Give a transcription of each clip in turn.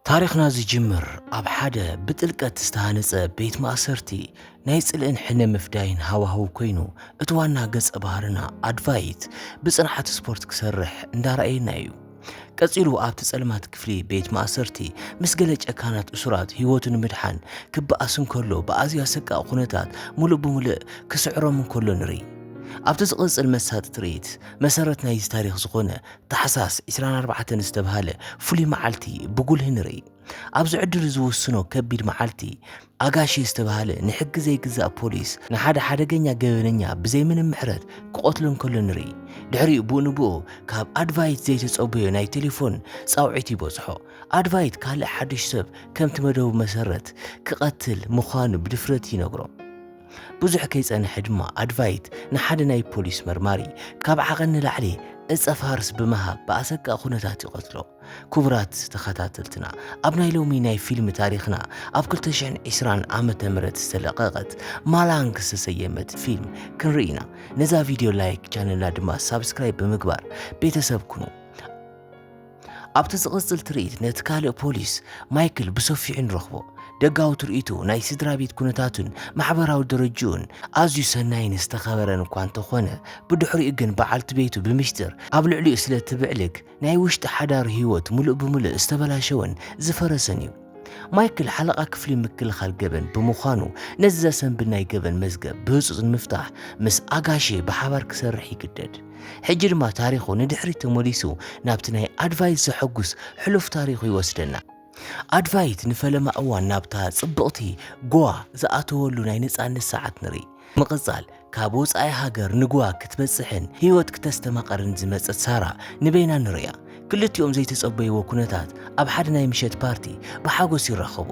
ታሪኽና ዝጅምር ኣብ ሓደ ብጥልቀት ዝተሃነጸ ቤት ማእሰርቲ ናይ ጽልእን ሕነ ምፍዳይን ሃዋህው ኮይኑ እቲ ዋና ገጸ ባህርና ኣድቫይት ብጽንዓት ስፖርት ክሰርሕ እንዳረኣየና እዩ። ቀጺሉ ኣብቲ ጸልማት ክፍሊ ቤት ማእሰርቲ ምስ ገለ ጨካናት እሱራት ህይወቱ ንምድሓን ክበኣስ እንከሎ ብኣዝዩ ኣሰቃቂ ኩነታት ምሉእ ብምልእ ክስዕሮም እንከሎ ንርኢ። ኣብቲ ዝቕጽል መሳጢ ትርኢት መሰረት ናይዚ ታሪኽ ዝኾነ ታሕሳስ ዕስራን ኣርባዕተን ዝተብሃለ ፍሉይ መዓልቲ ብጉልህ ንርኢ። ኣብዚ ዕድል ዝውስኖ ከቢድ መዓልቲ፣ ኣጋሼ ዝተብሃለ ንሕጊ ዘይግዛእ ፖሊስ ንሓደ ሓደገኛ ገበነኛ ብዘይ ምንም ምሕረት ክቐትሎ እንከሎ ንርኢ። ድሕሪኡ ብኡንብኡ ካብ ኣድቫይት ዘይተጸበዮ ናይ ቴሌፎን ጻውዒት ይበጽሖ። ኣድቫይት ካልእ ሓድሽ ሰብ ከምቲ መደቡ መሰረት ክቐትል ምዃኑ ብድፍረት ይነግሮ። ብዙሕ ከይጸንሐ ድማ ኣድቫይት ንሓደ ናይ ፖሊስ መርማሪ ካብ ዓቐን ንላዕሊ ዕጸ ፋርስ ብምሃብ ብኣሰቃቂ ኩነታት ይቐትሎ። ኩቡራት ተኸታተልትና ኣብ ናይ ሎሚ ናይ ፊልም ታሪኽና ኣብ ክልተ ሽሕን ዕስራን ዓመተ ምህረት ዝተለቐቐት ማላንግ ዝተሰየመት ፊልም ክንርኢ ኢና። ነዛ ቪድዮ ላይክ ቻነልና ድማ ሳብስክራይብ ብምግባር ቤተሰብ ኩኑ። ኣብቲ ዝቕጽል ትርኢት ነቲ ካልእ ፖሊስ ማይክል ብሰፊሑ ንረኽቦ። ደጋዊ ትርኢቱ ናይ ስድራ ቤት ኩነታቱን ማሕበራዊ ደረጅኡን ኣዝዩ ሰናይን ዝተኸበረን እኳ እንተኾነ፣ ብድሕሪኡ ግን በዓልቲ ቤቱ ብምሽጥር ኣብ ልዕሊኡ ስለ እትብዕልግ ናይ ውሽጢ ሓዳሩ ህይወት ምሉእ ብምሉእ ዝተበላሸወን ዝፈረሰን እዩ። ማይክል ሓለቓ ክፍሊ ምክልኻል ገበን ብምዃኑ ነዚ ዘሰንብድ ናይ ገበን መዝገብ ብህጹጽ ንምፍታሕ ምስ ኣጋሼ ብሓባር ክሰርሕ ይግደድ። ሕጂ ድማ ታሪኹ ንድሕሪት ተመሊሱ ናብቲ ናይ ኣድቫይት ዘሐጉስ ሕሉፍ ታሪኹ ይወስደና። ኣድቫይት ንፈለማ እዋን ናብታ ጽብቕቲ ጎዋ ዝኣተወሉ ናይ ነጻነት ሰዓት ንርኢ። ብምቕጻል ካብ ወጻኢ ሃገር ንጎዋ ክትበጽሕን ህይወት ክተስተማቕርን ዝመጸት ሳራ ንበይና ንርእያ። ክልቲኦም ዘይተጸበይዎ ኩነታት ኣብ ሓደ ናይ ምሸት ፓርቲ ብሓጎስ ይራኸቡ።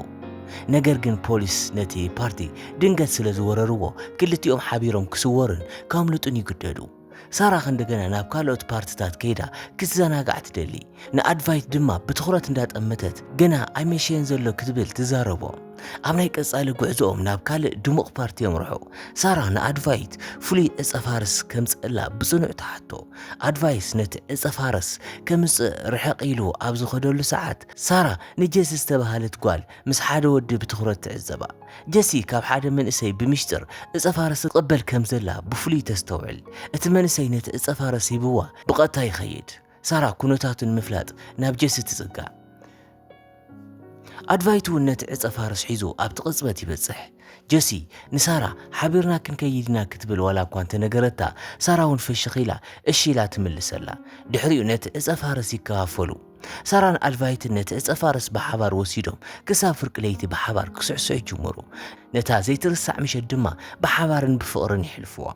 ነገር ግን ፖሊስ ነቲ ፓርቲ ድንገት ስለ ዝወረርዎ ክልቲኦም ሓቢሮም ክስወሩን ከምልጡን ይግደዱ። ሳራ ከእንደገና ናብ ካልኦት ፓርትታት ከይዳ ክትዘናጋዕ ትደሊ። ንኣድቫይት ድማ ብትኹረት እንዳጠመተት ገና ኣይመሸየን ዘሎ ክትብል ትዛረቦ። ኣብ ናይ ቀጻሊ ጉዕዞኦም ናብ ካልእ ድሙቕ ፓርቲ የምርሑ። ሳራ ንኣድቫይት ፍሉይ ዕጸ ፋርስ ከምጽእላ ብጽኑዕ ትሓቶ። ኣድቫይስ ነቲ ዕጸ ፋርስ ከምጽእ ርሕቕ ኢሉ ኣብ ዝኸደሉ ሰዓት፣ ሳራ ንጀሲ ዝተባህለት ጓል ምስ ሓደ ወዲ ብትኹረት ትዕዘባ። ጀሲ ካብ ሓደ መንእሰይ ብምሽጥር ዕጸ ፋርስ ትቕበል ከም ዘላ ብፍሉይ ተስተውዕል። እቲ መንእሰይ ነቲ ዕጸ ፋርስ ሂብዋ ብቐጥታ ይኸይድ። ሳራ ኩነታቱ ንምፍላጥ ናብ ጀሲ ትጽጋዕ። ኣድቫይት እውን ነቲ ዕጸ ፋርስ ሒዞ ኣብቲ ቅጽበት ይበጽሕ። ጀሲ፣ ንሳራ፣ ሓቢርና ክንከይድ ኢና ክትብል ዋላ እኳ እንተ ነገረታ፣ ሳራ እውን ፍሽኽ ኢላ እሺ ኢላ ትምልሰላ። ድሕሪኡ ነቲ ዕጸ ፋርስ ይከፋፈሉ። ሳራን ኣድቫይትን ነቲ ዕጸ ፋርስ ብሓባር ወሲዶም ክሳብ ፍርቂ ለይቲ ብሓባር ክስዕስዑ ይጅምሩ። ነታ ዘይትርሳዕ ምሸት ድማ ብሓባርን ብፍቕርን የሕልፉዋ።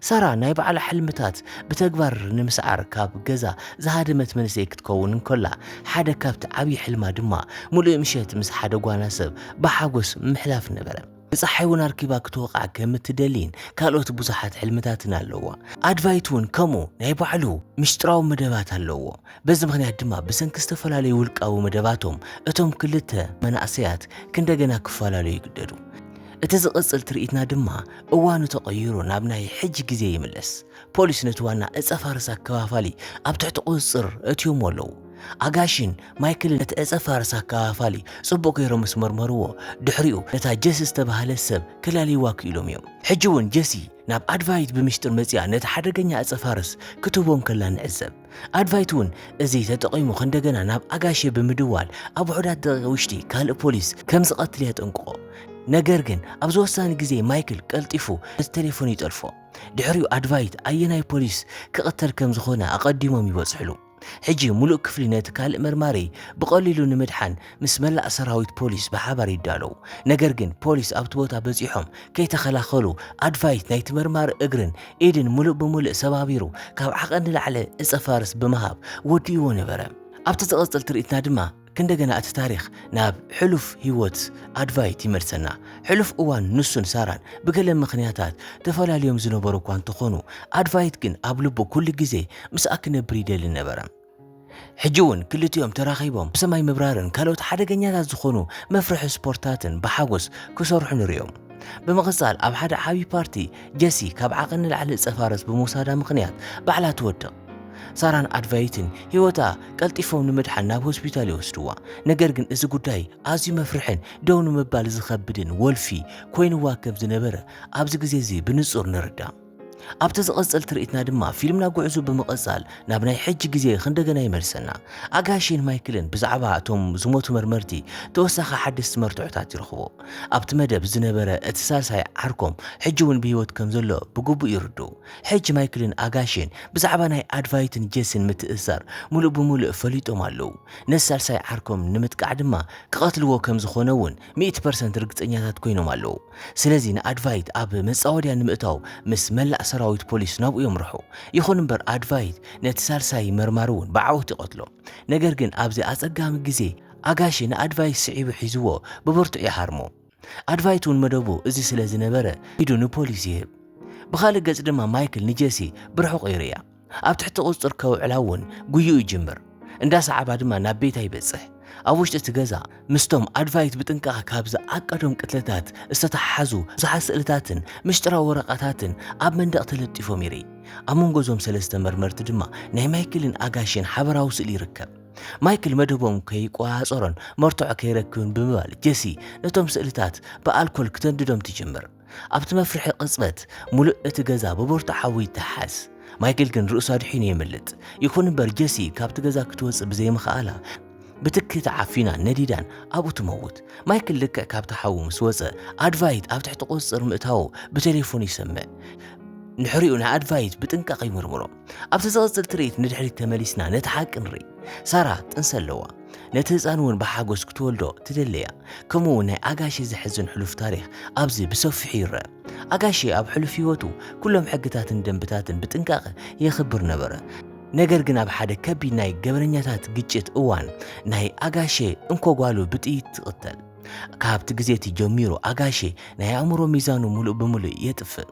ሳራ ናይ ባዕላ ሕልምታት ብተግባር ንምስዓር ካብ ገዛ ዝሃደመት መንእሰይ ክትከውን እንከላ፣ ሓደ ካብቲ ዓብዪ ሕልማ ድማ ምሉእ ምሸት ምስ ሓደ ጓና ሰብ ብሓጎስ ምሕላፍ ነበረ። ንጸሓይ እውን ኣርኪባ ክትወቕዓ ከም እትደሊን ካልኦት ብዙሓት ሕልምታትን ኣለዋ። ኣድቫይት እውን ከምኡ ናይ ባዕሉ ምስጢራዊ መደባት ኣለዎ። በዚ ምኽንያት ድማ ብሰንኪ ዝተፈላለዩ ውልቃዊ መደባቶም እቶም ክልተ መናእሰያት ክንደገና ክፈላለዩ ይግደዱ። እቲ ዝቕጽል ትርኢትና ድማ እዋኑ ተቐይሩ ናብ ናይ ሕጂ ግዜ ይምለስ። ፖሊስ ነቲ ዋና ዕጸ ፋርስ ኣከፋፋሊ ኣብ ትሕቲ ቁጽጽር እትዮሞ ኣለዉ። ኣጋሺን ማይክልን ነቲ ዕጸ ፋርስ ኣከፋፋሊ ጽቡቕ ገይሮም ምስ መርመርዎ፣ ድሕሪኡ ነታ ጀሲ ዝተባህለት ሰብ ከላልይዋ ክኢሎም እዮም። ሕጂ እውን ጀሲ ናብ ኣድቫይት ብምሽጥር መጺኣ ነቲ ሓደገኛ ዕጸ ፋርስ ክትህቦ እንከላ ንዕዘብ። ኣድቫይት እውን እዚ ተጠቒሙ ከእንደገና ናብ ኣጋሼ ብምድዋል ኣብ ውሑዳት ደቂቕ ውሽጢ ካልእ ፖሊስ ከም ዝቐትል የጠንቅቖ። ነገር ግን ኣብዚ ወሳኒ ግዜ ማይክል ቀልጢፉ ነቲ ተሌፎን ይጠልፎ። ድሕሪኡ ኣድቫይት ኣየናይ ፖሊስ ክቕተል ከም ዝኾነ ኣቐዲሞም ይበጽሕሉ። ሕጂ ምሉእ ክፍሊ ነቲ ካልእ መርማሪ ብቐሊሉ ንምድሓን ምስ መላእ ሰራዊት ፖሊስ ብሓባር ይዳለው። ነገር ግን ፖሊስ ኣብቲ ቦታ በጺሖም ከይተኸላኸሉ ኣድቫይት ናይቲ መርማሪ እግርን ኢድን ምሉእ ብምልእ ሰባቢሩ ካብ ዓቐን ንላዕሊ ዕጸ ፋርስ ብምሃብ ወዲእዎ ነበረ። ኣብቲ ዝቕጽል ትርኢትና ድማ ክንደገና እቲ ታሪኽ ናብ ሕሉፍ ህይወት ኣድቫይት ይመልሰና። ሕሉፍ እዋን ንሱን ሳራን ብገለ ምኽንያታት ተፈላልዮም ዝነበሩ እኳ እንተኾኑ ኣድቫይት ግን ኣብ ልቡ ኩሉ ግዜ ምስኣ ክነብር ይደሊ ነበረ። ሕጂ እውን ክልቲኦም ተራኺቦም ብሰማይ ምብራርን ካልኦት ሓደገኛታት ዝኾኑ መፍርሒ ስፖርትታትን ብሓጎስ ክሰርሑ ንሪኦም። ብምቕጻል ኣብ ሓደ ዓቢ ፓርቲ ጀሲ ካብ ዓቐን ንላዕሊ እጸፋረስ ብምውሳዳ ምኽንያት ባዕላ ትወድቕ። ሳራን ኣድቫይትን ህይወታ ቀልጢፎም ንምድሓን ናብ ሆስፒታል ይወስድዋ። ነገር ግን እዚ ጉዳይ ኣዝዩ መፍርሕን ደው ንምባል ዝኸብድን ወልፊ ኮይንዋ ከም ዝነበረ ኣብዚ ግዜ እዚ ብንጹር ንርዳእ። ኣብቲ ዝቐጽል ትርኢትና ድማ ፊልምና ጉዕዙ ብምቐጻል ናብ ናይ ሕጂ ግዜ ክንደገና ይመልሰና። ኣጋሼን ማይክልን ብዛዕባ እቶም ዝሞቱ መርመርቲ ተወሳኺ ሓደስቲ መርትዖታት ይረኽቡ። ኣብቲ መደብ ዝነበረ እቲ ሳልሳይ ዓርኮም ሕጂ እውን ብህይወት ከም ዘሎ ብግቡእ ይርድኡ። ሕጂ ማይክልን ኣጋሼን ብዛዕባ ናይ ኣድቫይትን ጄስን ምትእስሳር ምሉእ ብምሉእ ፈሊጦም ኣለዉ። ነቲ ሳልሳይ ዓርኮም ንምጥቃዕ ድማ ክቐትልዎ ከም ዝኾነ እውን ሚእቲ ፐርሰንት ርግጸኛታት ኮይኖም ኣለዉ። ስለዚ ንኣድቫይት ኣብ መጻወድያ ንምእታው ምስ መላእ ሰራዊት ፖሊስ ናብኡ የምርሑ። ይኹን እምበር ኣድቫይት ነቲ ሳልሳይ መርማሪ እውን ብዓወት ይቐትሎ። ነገር ግን ኣብዚ ኣጸጋሚ ግዜ ኣጋሺ ንኣድቫይት ስዒቡ ሒዝዎ ብብርቱዕ ይሃርሞ። ኣድቫይት እውን መደቡ እዚ ስለ ዝነበረ ኢዱ ንፖሊስ ይህብ። ብኻልእ ገጽ ድማ ማይክል ንጀሲ ብርሑቕ ይርእያ። ኣብ ትሕቲ ቁፅፅር ከውዕላ እውን ጉይኡ ይጅምር። እንዳ ሰዓባ ድማ ናብ ቤታ ይበፅሕ። ኣብ ውሽጢ እቲ ገዛ ምስቶም ኣድቫይት ብጥንቃቐ ካብ ዝዓቀዶም ቅትለታት ዝተተሓሓዙ ብዙሓት ስእልታትን ምሽጥራዊ ወረቓታትን ኣብ መንደቕ ተለጢፎም ይርኢ። ኣብ መንጎ እዞም ሰለስተ መርመርቲ ድማ ናይ ማይክልን ኣጋሼን ሓበራዊ ስእሊ ይርከብ። ማይክል መደቦም ከይቆፃፀሮን መርትዖ ከይረክብን ብምባል ጀሲ ነቶም ስእልታት ብኣልኮል ክተንድዶም ትጅምር። ኣብቲ መፍርሒ ቅጽበት፣ ምሉእ እቲ ገዛ ብብርቱዕ ሓዊ ይተሓዝ። ማይክል ግን ርእሱ ኣድሒኑ የምልጥ። ይኹን እምበር ጀሲ ካብቲ ገዛ ክትወጽእ ብዘይምኽኣላ፣ ብትኪ ተዓፊናን ነዲዳን ኣብኡ ትመውት። ማይክል ልክዕ ካብቲ ሓዊ ምስ ወጸ፣ ኣድቫይት ኣብ ትሕቲ ቁጽጽር ምእታዉ ብተሌፎን ይሰምዕ። ድሕሪኡ ንኣድቫይት ብጥንቃቐ ይምርምሮ። ኣብቲ ዝቕጽል ትርኢት ንድሕሪት ተመሊስና ነቲ ሓቂ ንርኢ። ሳራ ጥንሲ ኣለዋ። ነቲ ህጻን እውን ብሓጎስ ክትወልዶ ትደሊ'ያ። ከምኡ እውን ናይ ኣጋሼ ዘሕዝን ሕሉፍ ታሪኽ ኣብዚ ብሰፊሑ ይረኣ። ኣጋሼ ኣብ ሕሉፍ ህይወቱ ኩሎም ሕግታትን ደንብታትን ብጥንቃቐ የኽብር ነበረ። ነገር ግን ኣብ ሓደ ከቢድ ናይ ገበነኛታት ግጭት እዋን ናይ ኣጋሼ እንኮ ጓሉ ብጥይት ትቕተል። ካብቲ ግዜ እቲ ጀሚሩ ኣጋሼ ናይ ኣእምሮ ሚዛኑ ምሉእ ብምሉእ የጥፍእ።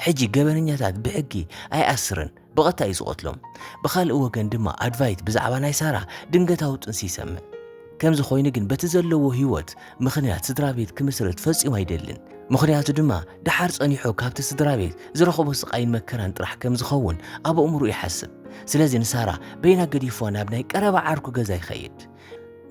ሕጂ ገበነኛታት ብሕጊ ኣይኣስርን ብቐታ እዩ ዝቐትሎም። ብኻልእ ወገን ድማ ኣድቫይት ብዛዕባ ናይ ሳራ ድንገታዊ ጥንሲ ይሰምዕ። ከምዚ ኮይኑ ግን በቲ ዘለዎ ህይወት ምኽንያት ስድራቤት ክምስርት ፈጺሙ ኣይደልን። ምኽንያቱ ድማ ደሓር ጸኒሑ ካብቲ ስድራቤት ዝረኽቦ ስቓይን መከራን ጥራሕ ከም ዝኸውን ኣብ ኣእምሮኡ ይሓስብ። ስለዚ ንሳራ በይና ገዲፍዋ ናብ ናይ ቀረባ ዓርኩ ገዛ ይኸይድ።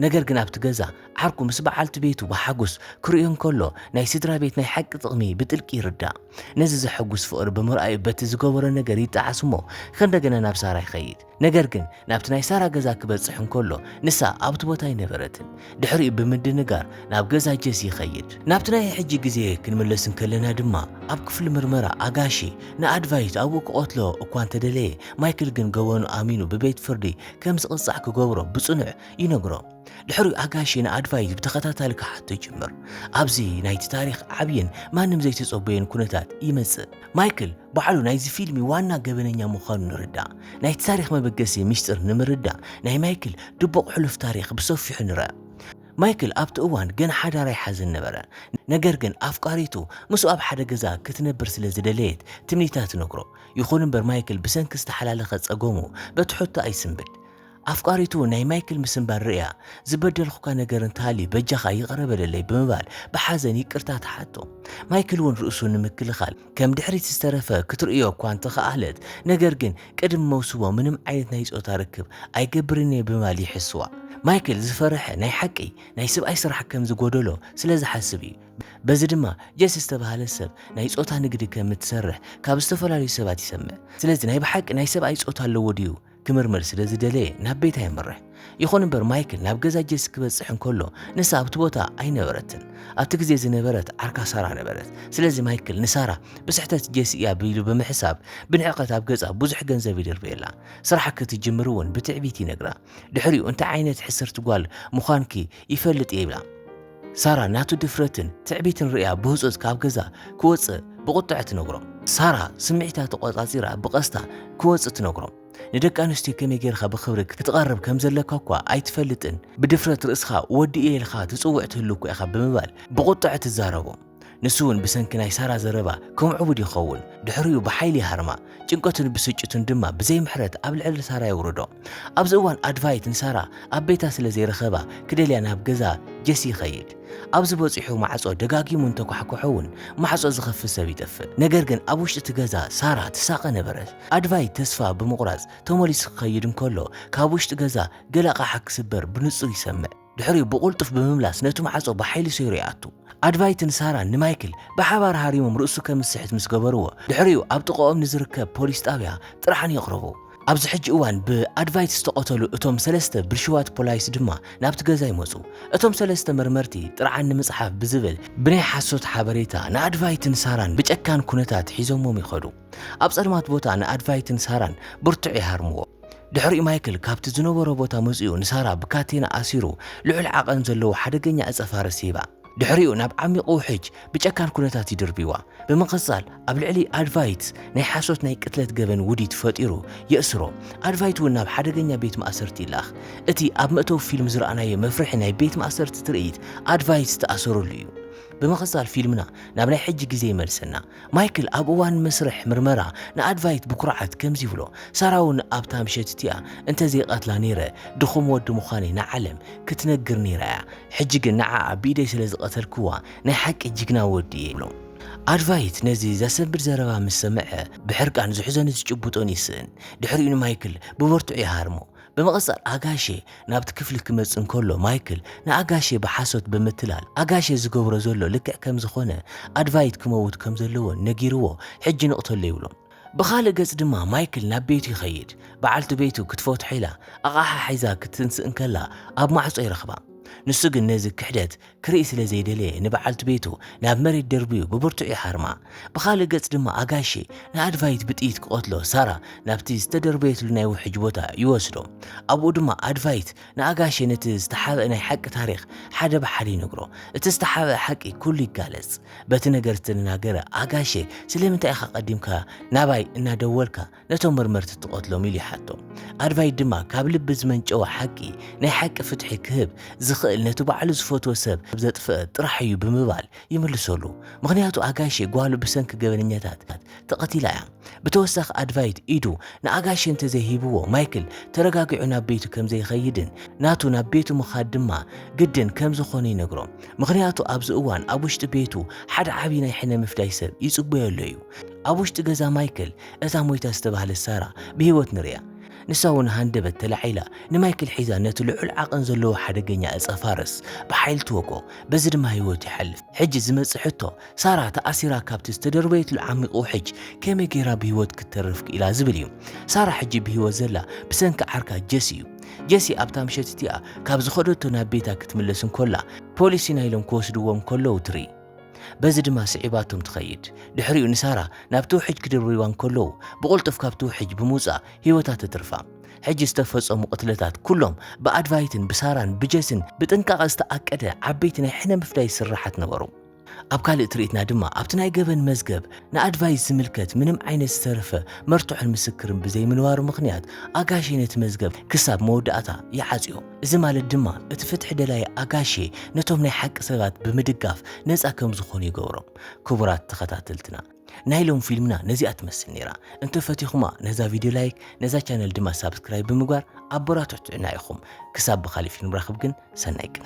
ነገር ግን ኣብቲ ገዛ ዓርኩ ምስ በዓልቲ ቤቱ ብሓጎስ ክርእዮ እንከሎ ናይ ስድራ ቤት ናይ ሓቂ ጥቕሚ ብጥልቂ ይርዳእ። ነዚ ዘሐጉስ ፍቕሪ ብምርኣዩ በቲ ዝገበሮ ነገር ይጠዓስ እሞ ከእንደገና ናብ ሳራ ይኸይድ። ነገር ግን ናብቲ ናይ ሳራ ገዛ ክበጽሕ እንከሎ ንሳ ኣብቲ ቦታ ኣይነበረትን። ድሕሪኡ ብምድንጋር ናብ ገዛ ጀሲ ይኸይድ። ናብቲ ናይ ሕጂ ግዜ ክንምለስ እንከለና ድማ ኣብ ክፍሊ ምርመራ ኣጋሺ ንኣድቫይት ኣብኡ ክቐትሎ እኳ እንተደለየ ማይክል ግን ገበኑ ኣሚኑ ብቤት ፍርዲ ከም ዝቕጻዕ ክገብሮ ብጽኑዕ ይነግሮ። ድሕሪኡ ኣጋሼ ንኣድቫይዝ ብተኸታታሊ ክሓቶ ይጅምር። ኣብዚ ናይቲ ታሪኽ ዓብይን ማንም ዘይተጸበዮን ኩነታት ይመጽእ። ማይክል ባዕሉ ናይዚ ፊልሚ ዋና ገበነኛ ምዃኑ ንርዳእ። ናይቲ ታሪኽ መበገሲ ሚስጥር ንምርዳእ ናይ ማይክል ድቡቕ ሕሉፍ ታሪኽ ብሰፊሑ ንርእ። ማይክል ኣብቲ እዋን ገና ሓዳር ኣይሓዘን ነበረ። ነገር ግን ኣፍቃሪቱ ምስኡ ኣብ ሓደ ገዛ ክትነብር ስለ ዝደለየት ትምኒታ ትነግሮ። ይኹን እምበር ማይክል ብሰንኪ ዝተሓላለኸ ጸገሙ በቲ ሕቶ ኣይስንብድ። ኣፍቃሪቱ ናይ ማይክል ምስንባድ ርእያ፣ ዝበደልኩካ ነገር እንተሃልዩ በጃኻ ይቕረ በለለይ ብምባል ብሓዘን ይቅርታ ትሓቶ። ማይክል እውን ርእሱ ንምክልኻል ከም ድሕሪት ዝተረፈ ክትርእዮ እኳ እንተኸኣለት ነገር ግን ቅድሚ መውስቦ ምንም ዓይነት ናይ ጾታ ርክብ ኣይገብርን እየ ብምባል ይሕስዋ። ማይክል ዝፈረሐ ናይ ሓቂ ናይ ስብኣይ ስራሕ ከም ዝጎደሎ ስለ ዝሓስብ እዩ። በዚ ድማ ጀስ ዝተባህለት ሰብ ናይ ጾታ ንግዲ ከም እትሰርሕ ካብ ዝተፈላለዩ ሰባት ይሰምዕ። ስለዚ ናይ ብሓቂ ናይ ሰብኣይ ጾታ ኣለዎ ድዩ ክምርምር ስለ ዝደለየ ናብ ቤታ የምርሕ። ይኹን እምበር ማይክል ናብ ገዛ ጀስ ክበጽሕ እንከሎ ንሳ ኣብቲ ቦታ ኣይነበረትን። ኣብቲ ግዜ ዝነበረት ዓርካ ሳራ ነበረት። ስለዚ ማይክል ንሳራ ብስሕተት ጀስ እያ ቢሉ ብምሕሳብ ብንዕቀት ኣብ ገጻ ብዙሕ ገንዘብ ይድርበየላ። ስራሕ ክትጅምር እውን ብትዕቢት ይነግራ። ድሕሪኡ እንታይ ዓይነት ሕስርቲ ጓል ምዃንኪ ይፈልጥ እየ ይብላ። ሳራ ናቱ ድፍረትን ትዕቢትን ርእያ ብህጹጽ ካብ ገዛ ክወጽእ ብቑጥዐ ትነግሮ። ሳራ ስምዒታ ተቖጻጺራ ብቐስታ ክወጽእ ትነግሮ። ንደቂ ኣንስትዮ ከመይ ጌርካ ብኽብሪ ክትቐርብ ከም ዘለካ እኳ ኣይትፈልጥን፣ ብድፍረት ርእስኻ ወዲ እየ ኢልካ ትጽውዕ ትህሉ እኳ ኢኻ ብምባል ብቑጥዐ ትዛረቦ። ንሱ እውን ብሰንኪ ናይ ሳራ ዘረባ ከምዕቡድ ይኸውን፣ ድሕሪኡ ብሓይሊ ይሃርማ፣ ጭንቀቱን ብስጭቱን ድማ ብዘይ ምሕረት ኣብ ልዕሊ ሳራ የውርዶ። ኣብዚ እዋን ኣድቫይት ንሳራ ኣብ ቤታ ስለ ዘይረኸባ ክደልያ ናብ ገዛ ጀሲ ይኸይድ። ኣብዚ በጺሑ ማዕጾ ደጋጊሙ እንተኳሕኩሖ እውን ማዕጾ ዝኸፍት ሰብ ይጠፍእ። ነገር ግን ኣብ ውሽጢ እቲ ገዛ ሳራ ትሳቐ ነበረት። ኣድቫይት ተስፋ ብምቑራጽ ተመሊሱ ክኸይድ እንከሎ ካብ ውሽጢ ገዛ ገለ ኣቕሓ ክስበር ብንጹር ይሰምዕ። ድሕሪኡ ብቕልጡፍ ብምምላስ ነቲ ማዕጾ ብሓይሊ ሰይሩ ይኣቱ። ኣድቫይትን ሳራን ንማይክል ብሓባር ሃሪሞም ርእሱ ከም ዝስሕት ምስ ገበርዎ፣ ድሕሪኡ ኣብ ጥቓኦም ንዝርከብ ፖሊስ ጣብያ ጥርዓን የቕርቡ። ኣብዚ ሕጂ እዋን ብኣድቫይት ዝተቐተሉ እቶም ሰለስተ ብልሽዋት ፖላይስ ድማ ናብቲ ገዛ ይመጹ። እቶም ሰለስተ መርመርቲ ጥርዓን ንምጽሓፍ ብዝብል ብናይ ሓሶት ሓበሬታ ንኣድቫይትን ሳራን ብጨካን ኩነታት ሒዞሞም ይኸዱ። ኣብ ጸልማት ቦታ ንኣድቫይትን ሳራን ብርቱዕ ይሃርምዎ። ድሕሪኡ ማይክል ካብቲ ዝነበሮ ቦታ መጺኡ ንሳራ ብካቴና ኣሲሩ ልዑል ዓቐን ዘለዎ ሓደገኛ ዕጸ ፋርስ ይህባ። ድሕሪኡ ናብ ዓሚቝ ውሕጅ ብጨካን ኩነታት ይድርብይዋ። ብምቕጻል ኣብ ልዕሊ ኣድቫይት ናይ ሓሶት ናይ ቅትለት ገበን ውዲት ፈጢሩ የእስሮ። ኣድቫይት እውን ናብ ሓደገኛ ቤት ማእሰርቲ ይልኣኽ። እቲ ኣብ መእተዊ ፊልም ዝረኣናዮ መፍርሒ ናይ ቤት ማእሰርቲ ትርኢት ኣድቫይት ዝተኣሰረሉ እዩ። ብምቕጻል ፊልምና ናብ ናይ ሕጂ ግዜ ይመልሰና። ማይክል ኣብ እዋን መስርሕ ምርመራ ንኣድቫይት ብኩርዓት ከምዚ ይብሎ፣ ሳራ'ውን ኣብታ ምሸት እቲኣ እንተ ዘይቐትላ ነይረ፣ ድኹም ወዲ ምዃነይ ንዓለም ክትነግር ነይራ እያ። ሕጂ ግን ንዓኣ ብኢደይ ስለ ዝቐተልክዋ ናይ ሓቂ ጅግና ወዲ እየ ይብሎ። ኣድቫይት ነዚ ዘሰንብድ ዘረባ ምስ ሰምዐ፣ ብሕርቃን ዝሕዞን ዝጭብጦን ይስእን። ድሕሪኡ ንማይክል ብብርቱዕ ይሃርሞ። ብምቕጻል ኣጋሼ ናብቲ ክፍሊ ክመጽእ እንከሎ ማይክል ንኣጋሼ ብሓሶት ብምትላል ኣጋሼ ዝገብሮ ዘሎ ልክዕ ከም ዝኾነ ኣድቫይት ክመውት ከም ዘለዎን ነጊርዎ ሕጂ ንቕተሎ ይብሎ። ብኻልእ ገጽ ድማ ማይክል ናብ ቤቱ ይኸይድ። በዓልቲ ቤቱ ክትፈትሖ ኢላ ኣቓሓ ሒዛ ክትትንስእ እንከላ ኣብ ማዕጾ ይረኽባ። ንሱ ግን ነዚ ክሕደት ክርኢ ስለ ዘይደለየ ንበዓልቲ ቤቱ ናብ መሬት ደርብዩ ብብርቱዕ ይሓርማ። ብኻልእ ገጽ ድማ ኣጋሼ ንኣድቫይት ብጥይት ክቐትሎ ሳራ ናብቲ ዝተደርበየትሉ ናይ ውሕጅ ቦታ ይወስዶ። ኣብኡ ድማ ኣድቫይት ንኣጋሼ ነቲ ዝተሓብአ ናይ ሓቂ ታሪኽ ሓደ ብሓደ ይነግሮ። እቲ ዝተሓብአ ሓቂ ኩሉ ይጋለጽ። በቲ ነገር ዝተደናገረ ኣጋሼ ስለምንታይ ኢኻ ቀዲምካ ናባይ እናደወልካ ነቶም መርመርቲ ትቐትሎም ኢሉ ይሓቶም። ኣድቫይድ ድማ ካብ ልቢ ዝመንጨወ ሓቂ ናይ ሓቂ ፍትሒ ክህብ ዝኽእል ነቲ ባዕሉ ዝፈትዎ ሰብ ዘጥፍእ ጥራሕ እዩ ብምባል ይምልሰሉ። ምኽንያቱ ኣጋሼ ጓሉ ብሰንኪ ገበነኛታት ተቐቲላ እያ። ብተወሳኺ ኣድቫይድ ኢዱ ንኣጋሼ እንተዘይሂብዎ ማይክል ተረጋጊዑ ናብ ቤቱ ከምዘይኸይድን ናቱ ናብ ቤቱ ምኻድ ድማ ግድን ከምዝኾነ ይነግሮ። ምኽንያቱ ኣብዚ እዋን ኣብ ውሽጢ ቤቱ ሓደ ዓብዪ ናይ ሕነ ምፍዳይ ሰብ ይጽበዮ ኣሎ እዩ። ኣብ ውሽጢ ገዛ ማይክል እታ ሞይታ ዝተባህለት ሳራ ብህይወት ንርእያ። ንሳ እውን ሃንደበት ተላዒላ ንማይክል ሒዛ ነቲ ልዑል ዓቐን ዘለዎ ሓደገኛ ዕጸ ፋርስ ብሓይሊ ትወግኦ፣ በዚ ድማ ህይወቱ ይሓልፍ። ሕጂ ዝመጽእ ሕቶ፣ ሳራ ተኣሲራ ካብቲ ዝተደርበየትሉ ዓሚቝ ውሕጅ ከመይ ገይራ ብህይወት ክትተርፍ ክኢላ ዝብል እዩ። ሳራ ሕጂ ብህይወት ዘላ ብሰንኪ ዓርካ ጀሲ እዩ። ጀሲ ኣብታ ምሸት እቲኣ ካብ ዝኸደቶ ናብ ቤታ ክትምለስ እንከላ፣ ፖሊስ ኢና ኢሎም ክወስድዎም ከለዉ ትርኢ። በዚ ድማ ስዒባቶም ትኸይድ። ድሕሪኡ ንሳራ ናብቲ ውሕጅ ክድርብይዋ እንከለዉ ብቕልጡፍ ካብቲ ውሕጅ ብምውጻእ ህይወታ ተትርፋ። ሕጂ ዝተፈጸሙ ቅትለታት ኩሎም ብኣድቫይትን ብሳራን ብጀስን ብጥንቃቐ ዝተኣቀደ ዓበይቲ ናይ ሕነ ምፍዳይ ስርሓት ነበሩ። ኣብ ካልእ ትርኢትና ድማ ኣብቲ ናይ ገበን መዝገብ ንኣድቫይት ዝምልከት ምንም ዓይነት ዝተረፈ መርትዖን ምስክርን ብዘይምንባሩ ምኽንያት ኣጋሼ ነቲ መዝገብ ክሳብ መወዳእታ ይዓጽዮ። እዚ ማለት ድማ እቲ ፍትሒ ደላይ ኣጋሼ ነቶም ናይ ሓቂ ሰባት ብምድጋፍ ነጻ ከም ዝኾኑ ይገብሮም። ክቡራት ተኸታተልትና ናይ ሎም ፊልምና ነዚኣ ትመስል ነይራ። እንተ ፈቲኹማ ነዛ ቪድዮ ላይክ ነዛ ቻነል ድማ ሳብስክራይብ ብምግባር ኣበራትዑትና ኢኹም። ክሳብ ብኻሊእ ፊልም ንራኽብ ግን ሰናይ ቅነ።